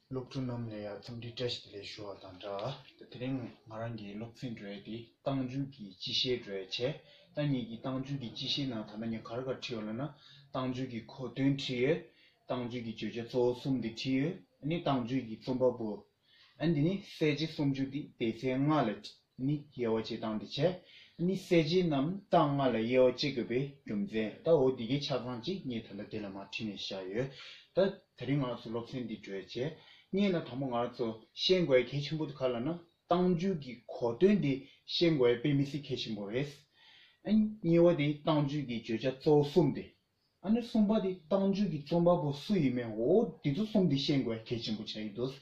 སློབ་ཕྲུག་རྣམས་ལ་ཡང་འཚམས་འདྲི་བཀྲ་ཤིས་བདེ་ལེགས་ཞུ་བ་དང་སྦྲགས། དེ་རིང་ང་རང་གིས་སློབ་ཚན་གྲོལ་ཏེ་ཏང་རྒྱུན་གྱི་སྤྱི་བཤད་གྲོལ་ཆེད། ད་ངེད་ཀྱིས་ཏང་རྒྱུན་གྱི་སྤྱི་བཤད་ནང་ད་ལྟ་ངས་གར་གར་བྲིས་ཡོད་ལབ་ན། ཏང་རྒྱུན་གྱི་གོ་དོན་བྲིས་ཡོད། ཏང་རྒྱུན་གྱི་བརྗོད་བྱ་གཙོ་བོ་གསུམ་དེ་བྲིས་ཡོད། ནི་ཏང་རྒྱུན་གྱི་རྩོམ་པ་པོ། ཨ་འདི་ནི་གསལ་བྱེད་སུམ་ཅུ་སྟེ་དེའི་ཚེ་ལྔ་ལ་ནི་དབྱེ་བ་བྱེད་སྟངས་དེ་བྱས། ནི་གསལ་བྱེད་རྣམས་རྟགས་ལྔ་ལ་དབྱེ་བ་བྱེད་དགོས་པའི་རྒྱུ་མཚན་ད་འོ་འདི་གའི་ཆ་ཚང་གཅིག་ངས་ད་ལྟ་དེ་ལ་མ་བྲིས་ནས་བཞག་ཡོད། ད་ད་རིང་ང་ཚོ་སློབ་ཚན་འདི་གྲོལ་རྗེས་རྙེད་ན་དང་པོ་ང་ཚོ་ཤེས་དགོས་གལ་ཆེན་པོ་དེ་ག་ལ་ན་སྟངས་རྒྱུད་ཀྱི་གོ་དོན་དེ་ཤེས་དགོས་པས་མི་སྲིད་གལ་ཆེན་པོ་རེད། ཨ་དབྱེ་བ་དེ་སྟངས་རྒྱུད་ཀྱི་བརྗོད་བྱ་གཙོ་བོ་གསུམ་སྟེ། ཨ་ནེ་གསུམ་པ་དེ་བཏང་བྱོལ་གྱི་རྩོམ་པ་པོ་སུ་ཡིན་མིན་འོ་དེ་ཚོ་གསུམ་དེ་ཤེས་དགོས་གལ་ཆེན་པོ་ཆགས་ཡོད་འདུག་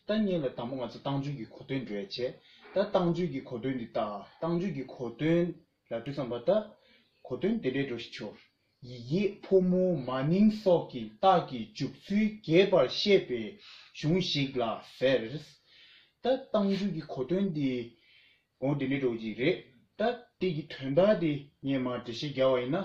ད་ངེད་ལ་དང་པོ་ང་ཚོ་བཏང་བྱོལ་གྱི་གོ་དོན་འགྲོ་ཡ་བྱས། ད་བཏང་བྱོལ་གྱི་གོ་དོན་འདི་ལྟ། བཏང་བྱོལ་གྱི་གོ་དོན་ལ་འགྲོ་བསམ་པ་ད། གོ་དོན་དེ་འདྲས་འགྲོ་ཞིག་ཆོག། ཡིག་ཡེ་ཕོ་མོ་མ་ནིང་སོགས་ཀྱི་རྟགས་ཀྱི་འཇུག་ཚུལ་རྒྱས་པར་བཤད་པའི་གཞུང་ཞིག་ལ་ཟེར། ད་བཏང་བྱོལ་གྱི་གོ་དོན་འདི་འོ་དེ་འདྲས་འགྲོ་གི་རེད། ད་དེ་གི་དོན་དག་དེ་ངས་མར་འགྲེལ་བཤད་རྒྱག་བ་ཡིན་ན།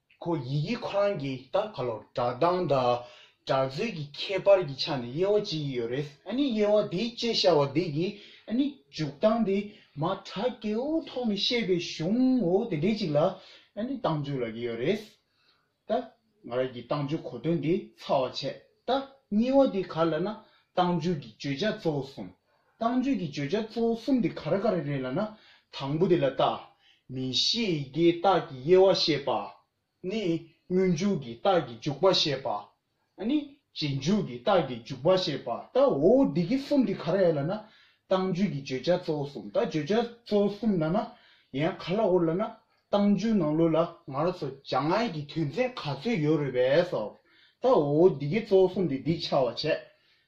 ཁོ་ཡི་གེ་ཁོ་རང་གིས་ད་ཕར་ལོག་བསྒྲགས་སྟངས་དང་སྒྲག་རྩོད་ཀྱི་ཁྱད་པར་གྱི་ཆ་ནས་དབྱེ་བ་འབྱེད་ཀྱི་ཡོད་རེད། ཨ་ནི་དབྱེ་བ་དེ་དཔྱད་བྱ་བ་དེ་གི་ཨ་ནི་འཇུག་སྟངས་དེ་མ་དྲག་སྐྱེའུ་ཐོག་ནས་བཤད་པའི་གཞུང་ངོ་བོ་དེ་འདྲའི་ཅིག་ལ་ཨ་ནི་སྟངས་འཇུག་ལབ་ཀྱི་ཡོད་རེད། ད་ང་རང་གིས་སྟངས་འཇུག་གོ་དོན་དེ་ཚར་བ་བྱས་ད་གཉིས་བ་དེ་ག་ལ་ན་སྟངས་འཇུག་གི་བརྗོད་བྱ་གཙོ་བོ་གསུམ་བཏང་བརྗོད་ཀྱི་བརྗོད་བྱ་གཙོ་བོ་གསུམ་དེ་ག་རེ་ག་རེ་རེད་ལ་ན། དང་པོ་དེ་ལ་བཏགས། མི་ཤེས་ཡི་གེའི་རྟགས་ཀྱི་དབྱེ་བ་ཤེས་པ། ནི། སྔོན་འཇུག་གི་རྟགས་ཀྱི་འཇུག་པ་ཤེས་པ། ནི། རྗེས་འཇུག་གི་རྟགས་ཀྱི་འཇུག་པ་ཤེས་པ་ལྟ་བུའོ། འདི་གི་གསུམ་དེ་ག་རེ་ལ་ན། བཏང་བརྗོད་ཀྱི་བརྗོད་བྱ་གཙོ་བོ་གསུམ་ལྟ་བརྗོད་བྱ་གཙོ་བོ་གསུམ་ལ་ན། ཡང་ག་ལ་འོ་ལ་ན། བཏང་བརྗོད་ནང་ལུགས་ལ་ང་རོ་སོ་བྱ་ང་ཡི་གི་དོན་ཚན་ག་ཚོད་ཡོད་རེད་བས་སོ། ལྟ་བུའོ། འདི་གི་གཙོ་བོ་གསུམ་དེ་འདི་འཆར་བར་བྱེད།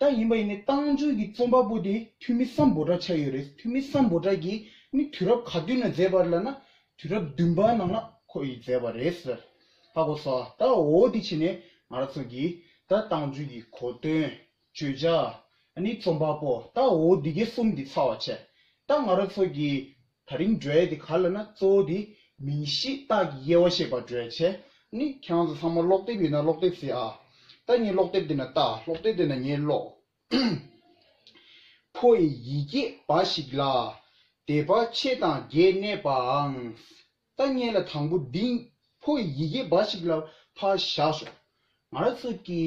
ད་ཡིན་པ་ཡིན་ནའི་ཏང་ཙུའུ་ཀྱི་རྩོམ་པ་པོ་དེ་འཐུས་མི་སམ་འབོ་དྲ་ཆགས་ཡོད་རེད་འཐུས་མི་སམ་འབོ་དྲ་གྱིས་ནི་དུས་རབས་ག་དུས་ན་མཛད་པར་ལ་ན་དུས་རབས་བདུན་པ་ནང་ན་ཁོ་ཡིས་མཛད་པ་རེད་ཟེར་ཧ་གོ་ས་ད་འོ་དེ་ཕྱིན་ནས་ང་ར་ཚོ་གྱིས་ད་ཏང་ཙུའུ་ཀྱི་གོ་དོན་བརྗོད་བྱ་ནི་རྩོམ་པ་པོ་ད་འོ་དེ་གས་གསུམ་དེ་ཚ་བ་བྱས་ད་ང་ར་ཚོ་གྱིས་ད་རིང་འགྲོས་དེ་ག་ལ་ན་གཙོ་བོ་དེ་མིང་གཞི་རྟགས་ཀྱི་དབྱེ་བ་ཤེས་པར་འགྲོས་བྱས་ནི་ཁྱང་ཚོ་ཚང་མ་ཀློག་དེབ་ཡོད་ན་ཀློག་དེབ་ཟེར་ཨ། ད་ངས་ཀློག་དེབ་དེ་ན་ལྟ་ཀློག་དེབ་དེ་ན་ངས་ཀློག། ཕོ་ཡི་ཡི་གེ་འབའ་ཞིག་ལ། དེ་འབའ་ཕྱེད་དང་བརྒྱད་གནས་པའང། ལྟ་ངན་ལ་དང་པོ་འདི་ཕོ་བའི་ཡི་གེ་འབའ་ཞིག་ལ་ཕ་བཞག་སོ། ང་ར་ཚོ་གི།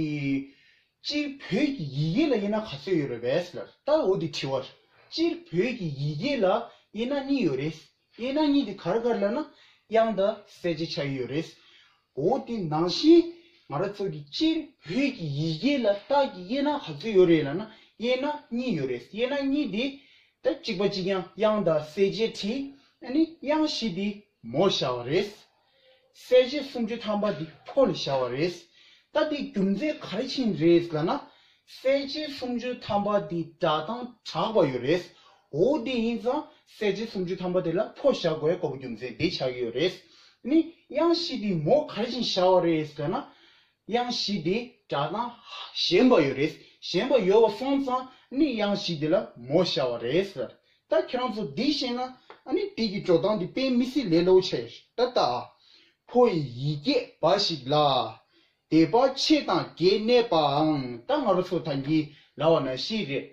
སྤྱིར་བོད་ཀྱི་ཡི་གེ་ལ་དབྱེ་ན་ག་ཚོད་ཡོད་རེད་བས་ལ་ལྟ་འོ་དེ་དྲི་བར། སྤྱིར་བོད་ཀྱི་ཡི་གེ་ལ་དབྱེ་ན་གཉིས་ཡོད་རེད། དབྱེ་ན་གཉིས་དེ་གར་གར་ལ་ན་དབྱངས་དང་གསལ་བྱེད་ཆ་ཡོད་རེད། གོ་བོ་དེ་ནང་བཞིན་ང་རང་ཚོ་གི་སྤྱིར་བོད་ཀྱི་ཡི་གེ་ལ་རྟགས་ཀྱི་དབྱེ་ན་ག་ཚོད་ཡོད་རེད་ལ་ན་དབྱེ་ན་གཉིས་ཡོད་རེད་དབྱེ་ན་གཉིས་དེ་ད་གཅིག་པ་གཅིག་ཡང་དབྱངས་དང་གསལ་བྱེད་བྲིས་ཨ་ནི་དབྱངས་བཞི་དེ་མོ་བྱ་བ་རེད། གསལ་བྱེད་སུམ་ཅུ་ཐམ་པ་དེ་ཕོ་ལ་བྱ་བ་རེད། ད་དེ་རྒྱུ་མཚན་ག་རེ་ཕྱིན་རེད་ལ་ན་གསལ་བྱེད་སུམ་ཅུ་ཐམ་པ་དེ་སྒྲ་དང་གྲགས་པ་ཡོད་རེད། འོ་དེ་ཡིན་ཙང་གསལ་བྱེད་སུམ་ཅུ་ཐམ་པ་དེ་ལ་ཕོ་བཞག་དགོས་དཀའ་བོ་རྒྱུ་མཚན་དེ་ཆགས་ཀྱི་ཡོད་རེད། ནི་དབྱངས་བཞི་དེ་མོ་ག་རེ་བཞིན་བཞག་བ་རེད་ཟེར་ན། དབྱངས་བཞི་དེ་སྒྲ་དང་ཞེན་པ་ཡོད་རེད་ཞེན་པ་ཡོད་བ་སོང་ཙང་ནི་དབྱངས་བཞི་དེ་ལ་མོ་བཞག་བ་རེད་ཟེར། ད་ཁྱེད་རང་ཚོ་འདི་ཤེས་ན་ནི་དེ་ཀྱི་འགྲོ་སྟངས་དེ་དཔེ་མི་སྲིད་ལས་ལོག་ཆེ། ད་ལྟ། ཕོ་ཡི་ཡི་གེ་འབའ་ཞིག་ལ། དེ་པ་ཆེ་དང་རྒྱས་གནས་པའང་ད་ང་རོ་ཚོ་ད་འགྱིས་ལ་བ་ན་ཤི་རེད་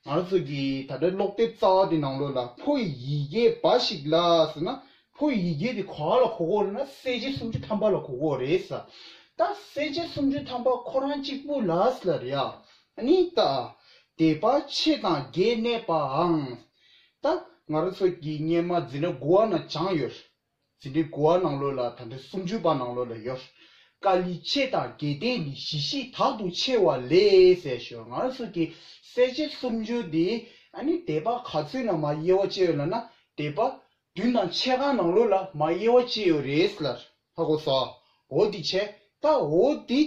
ང་རོ་ཚོ་གི་ད་ལྟ་ཀློག་དེབ་རྩ་བ་དེ་ནང་ལོ་ལ་ཕོ་ཡི་ཡི་གེ་འབའ་ཞིག་ལ་ཟེར་ན་ཕོ་ཡི་ཡི་གེ་དེ་ག་ལ་གོ་གོ་ན་གསལ་བྱེད་སུམ་ཅུ་ཐམ་པ་ལ་གོ་གོ་རེད་ཟ་ད་གསལ་བྱེད་སུམ་ཅུ་ཐམ་པ་ཁོ་རང་གཅིག་པུ་ལ་ཟ་ལ་རེད་ཨ་ནི་ད་དེ་པ་ཆེ་དང་རྒྱས་གནས་པའང་ད་ང་རོ་ཚོ་གི་སྙེ་མ་འཛིན་ན་དགུ་བ་ན་བྱང་ཡོད་རེད། ཟིན་བྲིས་དགུ་བ་ནང་ལོས་ལ་དང་དོན་སུམ་ཅུ་པ་ནང་ལོས་ལ་ཡོད། ཀ་ལི་ཆེ་དང་རྒྱལ་བསྟན་གྱི་གཞི་གཤིས་དག་ཏུ་ཕྱེ་བ་ལས་ཟེར་ཞོར་ང་རང་ཚོ་གི་གསལ་བྱེད་སུམ་ཅུ་འདི་ནི་དད་པ་ག་ཚོད་ནང་མ་དབྱེ་བ་ཅི་ཡོད་ལ་ན་དད་པ་བདུན་དང་ཕྱེད་ཀ་ནང་ལོས་ལ་མ་དབྱེ་བ་ཅི་ཡོད་རེད་ལ་ཧ་གོ་ས་འོ་འདི་ཆད་ད་འོ་འདི་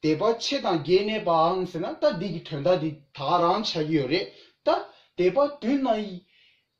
དད་པ་ཆེ་དང་རྒྱལ་གནས་པའང་ཟེར་ན་ད་འདི་གི་དོན་དག་འདི་དག་རང་བྱ་གི་ཡོད་རེད་ད་དད་པ་བདུན་དང།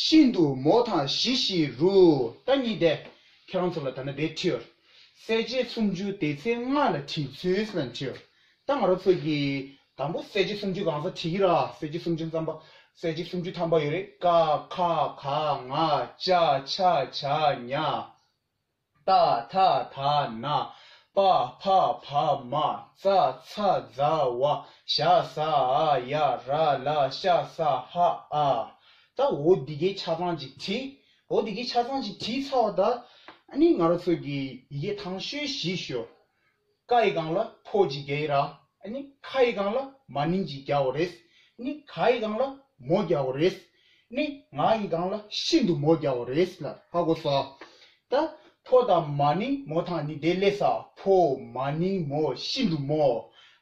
ཤིན་ཏུ་མོ་དང་བཞི་བཞི་རུ་རྟ་གཉིས་བསྡད། ཁྱེད་རང་ཚོ་ལ་ད་ནི་བེད་ཁྲིད། གསལ་བྱེད་སུམ་ཅུ་དེ་ཚེ་ལྔ་ལ་བྲིས་ཚུལ་ལ་འཁྲིད། རྟ་ང་རོ་ཚོ་གིས་དང་པོ་གསལ་བྱེད་སུམ་ཅུ་གང་ས་བྲིས་ཀྱི་ར་གསལ་བྱེད་སུམ་ཅུ་མཚམས་པ་གསལ་བྱེད་སུམ་ཅུ་ཐམ་པ་ཡོད་རེད་ཀ་ཁ་ག་ང་ཅ་ཆ་བྱ་ཉ། རྟ་ཐ་ཐ་ན་པ་ཕ་ཕ་མ་ཙ་ཚ་ཛ་བ་ཤ་ས་ཨ་ཡ་ར་ལ་ཤ་ས་ཧ་ཨ། ད་འོ་དེ་གའི་ཆ་ཚང་ཅིག་བྲིས། འོ་དེ་གའི་ཆ་ཚང་ཅིག་བྲིས་ཚར་བ་ད་ཨ་ནི་ང་རོ་ཚོ་གི་ཡི་གེ་ཐང་ཤོས་བཞི་ཤོ། ཀ་ཡི་གང་ལ་ཕོ་གཅིག་རྒྱ་ཡི་ར་ནི་ཁ་ཡི་གང་ལ་མ་ནིང་གཅིག་རྒྱ་བོ་རེས་ནི་ག་ཡི་གང་ལ་མོ་རྒྱ་བོ་རེས་ནི་ང་ཡི་གང་ལ་ཤིན་ཏུ་མོ་རྒྱ་བོ་རེས་ལ་ཧ་གོ་སོ། ད་ཕོ་དང་མ་ནིང་མོ་དང་ནི་དེ་ལས་ས་ཕོ་མ་ནིང་མོ་ཤིན་ཏུ་མོ་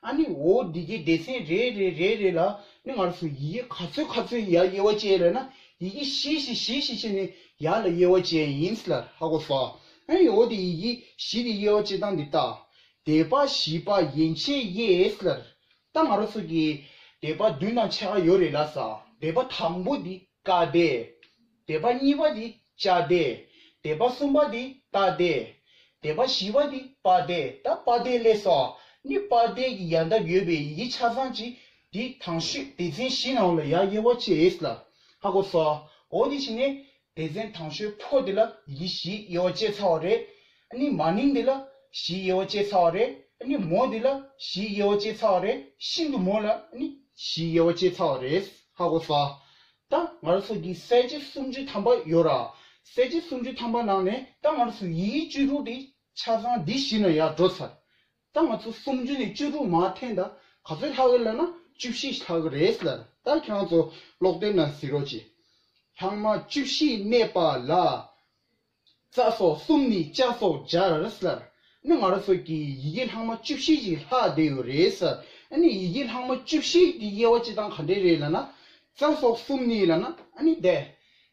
ཨ་ནི་འོ་འདི་གའི་སྡེ་ཚན་རེ་རེ་རེ་རེ་ལ་ནི་ངར་སོ་ཡི་གེ་ག་ཚོད་ག་ཚོད་ཡ་དབྱེ་བ་བྱས་ལ་ན་ཡི་གེ་བཞི་བཞི་བཞི་བཞི་བྱས་ནས་ཡ་ལ་དབྱེ་བ་བྱས་ཡིན་ལ་ཧ་གོ་སོ། ཨན་ཡོ་དེ་ཡི་གིས་གཞི་དེ་ཡེ་ཨོ་ཅེ་དང་འདི་དག། དད་པ་བཞི་པ་ཡན་ཆད་ཡེ་ཨེས་ལར། རྟ་ང་རོ་སོགས་ཀྱི། དད་པ་བདུན་དང་ཕྱེད་ཀ་ཡོད་རེད་ལ་ས། དད་པ་དང་པོ་དེ་ཀ་དད། དད་པ་གཉིས་པ་དེ་ཅ་དད། དད་པ་གསུམ་པ་དེ་ཏ་དད། དད་པ་བཞི་པ་དེ་པ་དད་ད་པ་དད་ལས་ས་ནི་པ་དད་ཀྱི་ཡལ་འདབ་ཡོད་པའི་ཡི་གེ་ཆ་ཚང་གཅིག་དེ་དང་ཤོད། སྡེ་ཚན་བཞི་ནང་ལ་ཡ་ཡེ་ཨོ་ཅེ་ཨེས་ལར་ཧ་གོ་ས་ཨོ་དེ་བཞི་ནི་སྡེ་ཚན་དང་ཤོད་ཕོ་དེ་ལ་ཡི་བཞི་དབྱེ་བ་བྱས་ཚར་བ་རེད། ནི་མ་ནིང་དེ་ལ་བཞི་དབྱེ་བ་བྱས་ཚར་བ་རེད། ནི་མོ་དེ་ལ་བཞི་དབྱེ་བ་བྱས་ཚར་བ་རེད། ཤིན་ཏུ་མོ་ལ་ནི་བཞི་དབྱེ་བ་བྱས་ཚར་བ་རེད། ཧ་གོ་ས། ད་ང་ར་ཚོ་གི་གསལ་བྱེད་སུམ་ཅུ་ཐམ་པ་ཡོད་ར། གསལ་བྱེད་སུམ་ཅུ་ཐམ་པ་ནང་ནས་ད་ང་ར་ཚོ་ཡི་བཅུ་དྲུག་དེ་ཆ་ཚང་འདི་བཞི་ན་ཡར་འགྲོ་ཚར། ད་ང་ཚོ་སུམ་བཅུ་ནས་བཅུ་དྲུག་མ་འཐེན་ད་ག་ཚོད་ལྷག་ཡོད་ལབ་ན་བཅུ་བཞི་ལྷག་གི་རེད་ལ་ད་ཁྱེད་རང་ཚོ་ཀློག་དེབ་ནང་གཟིགས་རོགས་གྱིས། ལྷག་མ་བཅུ་བཞི་གནས་པ་ལ། རྩ་སོགས་གསུམ་ནི་བཅའ་སོགས་སྦྱར་ལར་ནི་ང་རང་ཚོ་གི་ཡི་གེ་ལྷག་མ་བཅུ་བཞི་ཅིག་ལྷག་བསྡད་ཡོད་རེད་ལ་ཨ་ནི་ཡི་གེ་ལྷག་མ་བཅུ་བཞི་གི་དབྱེ་བ་སྤྱི་དང་ག་འདྲའི་རེད་ལབ་ན། རྩ་སོགས་གསུམ་ནི་ལབ་ན་ཨ་ནི་བསྡད་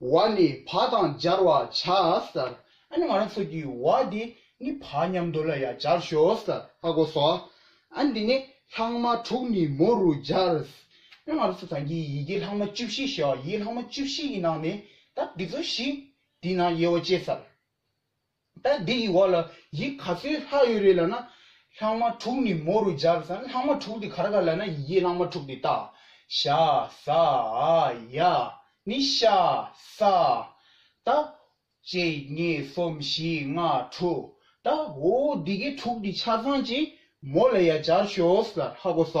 བ་ནི་བ་དང་སྦྱར་བར་བྱ། ཨ་ནི་ང་རང་ཚོ་གི་བ་དེ་ནི་བ་མཉམ་དུ་ལ་ཡང་སྦྱར་ཞོ། ཨ་གོ་སོ། ཨ་འདི་ནི་ལྷག་མ་དྲུག་ནི་མོ་རུ་སྦྱར། ཨ་ང་རང་ཚོ་ཚང་གི་ཡི་གེ་ལྷག་མ་བཅུ་བཞི་ཞེས་བ་ཡི་ལྷག་མ་བཅུ་བཞི་ཡི་ནང་ནས་ད་འདི་ཚོ་བཞི་དེའི་ནང་དབྱེ་བ་བཅས། ད་འདི་ཡི་བར་ལ་ཡིག་ག་ཚོད་ལྷག་ཡོད་རེད་ལ་ན། ལྷག་མ་དྲུག་ནི་མོ་རུ་སྦྱར་བསམ་ལྷག་མ་དྲུག་དེ་ག་རེ་ག་རེ་ལ་ན་ཡི་གེ་ལྷག་མ་དྲུག་དེ་ཏཱ། ཤ། ཟ། ཨ། ཡ། ནི། ཤ། ས། ཏཱ། གཅིག་གཉིས་གསུམ་བཞི་ལྔ་དྲུག་ཏཱ། འོ་འོ་འདི་གའི་དྲུག་འདི་ཆ་ཚང་གཅིག་མོ་ལ་ཡ་སྦྱར་ཞོགས་ལ་ལྷག་གོ་ས།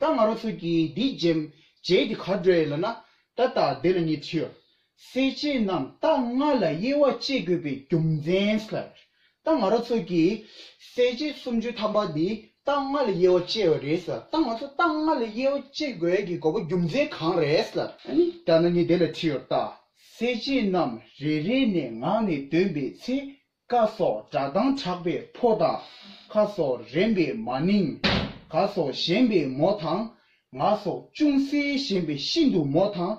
ད་ང་རོ་ཚོད་ཀྱིས་འདི་འཇེམ་བྱས་ཏེ་གར་འགྲོ་ཡས་ལ་ན། ད་ལྟ་བདེ་ལ་ཉེ་ཁྲིའོ། སེར་བྱེས་རྣམས་རྟ་རྔ་ལ་དབྱེ་བ་གཅད་དགོས་པའི་རྒྱུ་མཚན་ཟེར། ད་ང་རོ་ཚོད་ཀྱིས། སེར་བྱེས་སུམ་ཅུའི་ཐམ་པ་འདི་རྟ་རྔ་ལ་དབྱེ་བ་གཅད་བ་རེད་ཟེར། ད་ང་ཚོ་རྟ་རྔ་ལ་དབྱེ་བ་གཅད་དགོས་ཀྱི་དགོས་པ་རྒྱུ་མཚན་གང་རེད་ཟེར། ད་ན་ངས་བདེ་ལ་ཁྲིའོ་རྟ། སེར་བྱེས་རྣམས་རེ་རེ་ནས་ངག་ནས་འདོན་པའི་ཚེ་ཀ་སོགས་སྒྲ་གདངས་གྲགས་པའི་ཕོ་དང། ཁ་སོགས་རེམ་པའི་མ་ནིང། ག་སོགས་ཞེན་པའི་མོ་དང། ང་སོགས་ཅུང་ཟད་ཞེན་པའི་ཤིན་ཏུ་མོ་དང།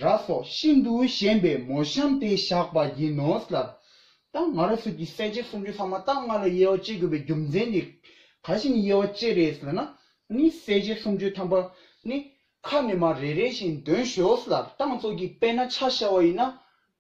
ར་སོགས་ཤིན་ཏུ་ཞེན་པའི་མོ་བཤམས་ཏེ་བཞག་པ་ཡིན་ནོ། ལར་དང་ང་ར་སོགས་ཀྱི་གསལ་བྱེད་སུམ་ཅུ་ལྷག་མ་དག་ལྔ་ལ་དབྱེ་བ་དཔྱད་དགོས་པའི་རྒྱུ་མཚན་ནི་ག་ཞིག་ནི་དབྱེ་བ་དཔྱད་རེས་ལ་ན་ནི་གསལ་བྱེད་སུམ་ཅུ་ཐམ་པ་ནི་ཁ་ནི་མ་རེ་རེ་བཞིན་འདོན་ཞོག་ལར་དང་ཚོགས་ཀྱི་དཔེ་ན་ཆ་བྱ་བ་ཡིན་ན།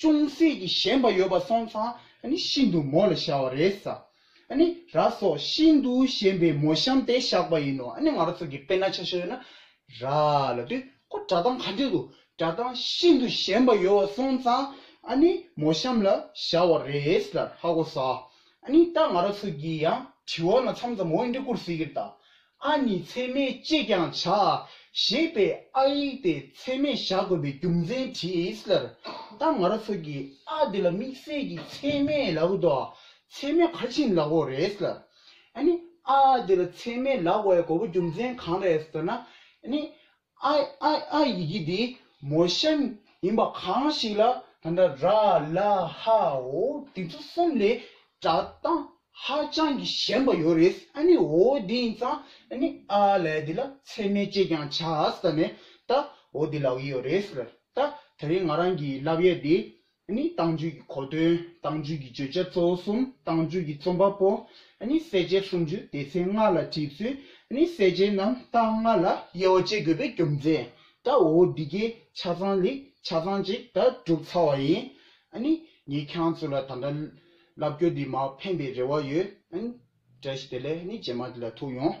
ཅུང་ཟད་ཀྱིས་ཞེན་པ་ཡོད་པ་སོང་ཙང་ནི་ཤིན་ཏུ་མོ་ལ་ཤར་བ་རེད། ནི་ར་སོགས་ཤིན་ཏུ་ཞན་པའི་མོ་གཤམ་དེ་བཞག་པ་ཡིན་ནོ། ནི་ང་རོ་ཚོ་གི་དཔེར་ན་ཆ་ཤོས་ན་ར་ལ་དུས་ཁོ་སྒྲ་གདངས་ག་འདྲས་འདུག་སྒྲ་གདངས་ཤིན་ཏུ་ཞན་པ་ཡོད་བ་སོང་ཙང་ནི་མོ་གཤམ་ལ་བཞག་བ་རེད་ལར་ཧ་གོ་ས། ནི་ད་ང་རོ་ཚོ་གི་ཡང་དྲི་བ་ན་མཚམས་ཙམ་འོས་འགྲེ་བསྐུར་ཟིག་གིར་ད་ཨ་ནི་ཚད་མའི་ཅེས་ཀྱང་བྱ། ཞེས་པའི་ཨ་ཡིག་དེ་ཚད་མས་བཞག་དགོས་པའི་རྒྱུ་མཚན་དྲིས། ལར་ཏང་ང་རོ་ཚོ་གིས་ཨ་དེ་ལ་དམིགས་བསལ་གྱི་ཚད་མའི་ལག་འོད་དོ། ཚད་མའི་ཁ་ཆིངས་ལག་འོད་རེད། ཨ་ནི་ཨ་དེ་ལ་ཚད་མའི་ལག་འོད་གོ་བོ་རྒྱུ་མཚན་གང་རེད་ཟེར་ན། ཨ་ནི་ཨ་ཨ་ཨ་ཡི་གེ་དེ་མོ་ཤན་ཡིན་པ་གང་ཞིག་ལ་ད་ལྟ་ར་ལ་ཧ་ཨོ་དེ་ཚོ་གསུམ་ལས་སྒྲ་གདངས་ཧ་ཅང་གི་ཞན་པ་ཡོད་རེད་ཨ་ནི་ཨོ་དེ་ཡིན་ཙང་ཨ་ནི་ཨ་ལ་དེ་ལ་ཚད་མའི་དཔྱད་ཀྱང་བྱ་ཨ་ཟ་ནས་ད་ཨོ་དེ་ལ་ཨོ་ཡོད་རེད་ད་ད་རེས་ང་རང་གིས་བསླབ་ཡས་དེ་ནི་དྭངས་བཅུད་ཀྱི་གོ་དོན་དྭངས་བཅུད་ཀྱི་བརྗོད་བྱ་གཙོ་བོ་གསུམ་དྭངས་བཅུད་ཀྱི་རྩོམ་པ་པོ། ནི་གསལ་བྱེད་སུམ་ཅུ་སྡེ་ཚན་ལྔ་ལ་བྲིས་ཚུལ། ནི་གསལ་བྱེད་རྣམ་རྟགས་ལྔ་ལ་དབྱེ་བ་བཅད་དགོས་པའི་རྒྱུ་མཚན། དགྲ་བོ་འདི་གའི་ཆ་ཚང་ལས་ཆ་ཚང་ཅིག་དགྲ་བསྒྲུབ་ཚར་བ་ཡིན། ནི་ངས་ཁྱང་ཚོ་ལ་ད་འདྲ་བསླབ་རྒྱོ་འདི་མ་ཕན་པའི་རེ་བ་ཡོད། དགྲ་བཞི་དེ་ལས་ནི་རྗེས་མ་དེ་ལ་ཐུག་ཡོང།